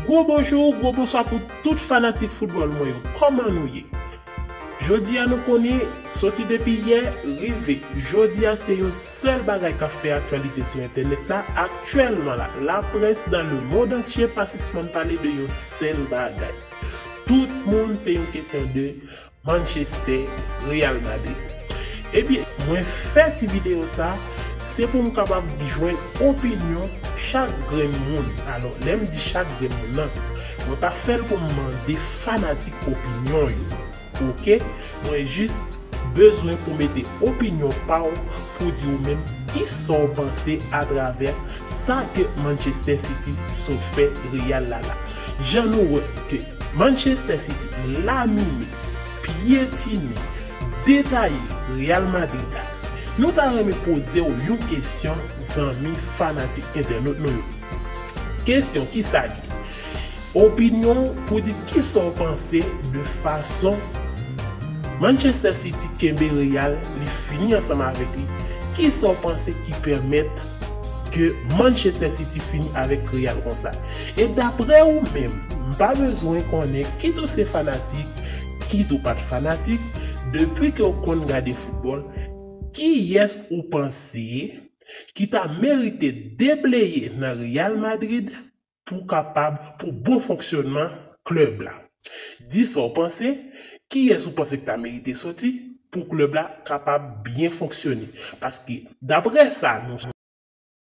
Gwo bonjou, gwo bonswa pou tout fanatik foutbòl mwen yo, kòman nou ye? Jodi a nou konnen, soti depi yè, rive jodi a se yon sèl bagay k ap fè aktyalite sou entènèt la, aktyèlman la, laprès nan lemondantye pa sispann pale de yon sèl bagay, tout moun se yon kesyon de. Manchester, Real Madrid. Ebyen mwen fè ti video sa se pou m kapab jwenn opinyon chak grenn moun alò lè m di chak grenn moun nan mwen pa fè l pou m mande fanatik opinyon yo ok mwen jis bezwen pou mete opinyon pa w pou di ou menm kisa w panse atravè Sa ke Manchester City sot fè Real la la. Jan nou wè ke Manchester City lamine, pyetine, detaye Real Madrid la. Nou ta renmen poze w yon kesyon zanmi fanatik entènot nou yo. Kesyon ki sa li ye? Opinyon w pou di kisa w panse de fason Manchester City kenbe Real, li fini ansanm avèk li, kisa w panse ki pèmèt ke Manchester City fini avèk Real konsa. E daprè ou menm, m pa bezwen konnen kit ou se fanatik, kit ou pat fanatik, depi ke w konn gade foutbòl, kiyès ou panse ki ta merite debleye nan Real Madrid? pou kapab pou bon fonksyònman klèb la. Di sa w panse, kiyès ou panse k ta merite soti pou klèb la kapab byen fonksyone? Paske daprè sa nou.